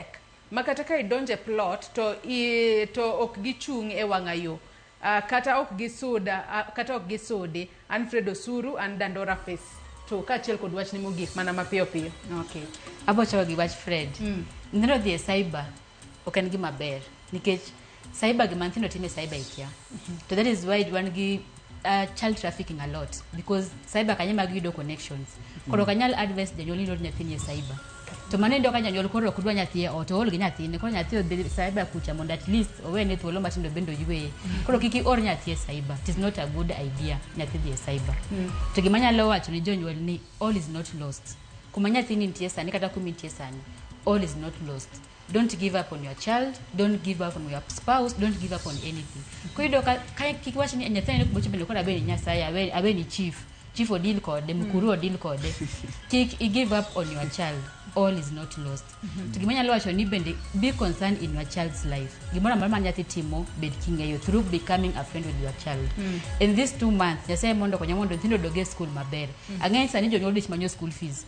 matek ma kata ka idonjo e plot to, i, to ok gichung' e wang'a yo uh, kata ok gisuda uh, kata ok gisudi an Fred Osuru an Dandora Face to kaachiel kod wachni mogik mana mapiyo piyo. Okay. Abo chako gi wach Fred. Mm. Neno dhi e cyber ok en gima ber nikech cyber gima nyithindo time cyber ikia to that is why wan gi uh, child trafficking a lot because cyber kanye mag yudo connections koro kanyal advice janyuol ni lor nyathini e cyber to mano endo ka janyuol koro ok dwa nyathi e ot ool gi nyathine koro nyathi odhi cyber kucha mondo at least owene thuolo matindo bende oyweye koro kik ior nyathi e cyber it is not a good idea nyathi dhi e cyber to gima nyalo wacho ni jonyuol ni all is not lost kuma nyathini nitie sani kata kuma intie sani all is not lost Don't give up on your child, don't give up on your spouse, don't give up on anything. Kwa hiyo ka ka- kikiwachi ni nyathani ko boche bende kora bende nyasaye awe awe ni chief. Chief odil kode, mkuru odil kode. Kik i give up on your child. All is not lost. To gimanya lo wacho ni bende be concerned in your child's life. Gimora mara ma nyathi timo bed king'eyo through becoming a friend with your child. In these two months, nyasaye mondo konya mondo nyithindo odog e school maber. Ang'eny sani jonyuol dich manyo school fees.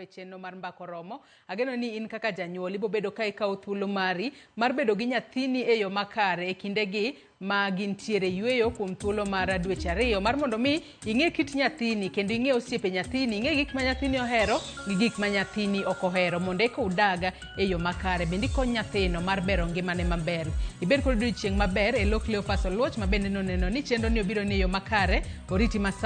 e chenro mar mbako romo ageno ni in kaka janyuol ibobedo ka ikawo thuolo mari mar bedo gi nyathini e yo makare e kindegi ma gintiere yueyo kuom thuolo mar dweche ariyo mar mondo mi ing'e kit nyathini kendo ing'e osiepe nyathini ing'e gik ma nyathini ohero gi gik ma nyathini ok ohero mondo eka udaga e yo makare bende ikony nyathino mar bero ngimane maber ibed kod odiochieng' maber e lok leopas oluoch ma bende noneno ni chenroni obiro ni e yo makare oriti masa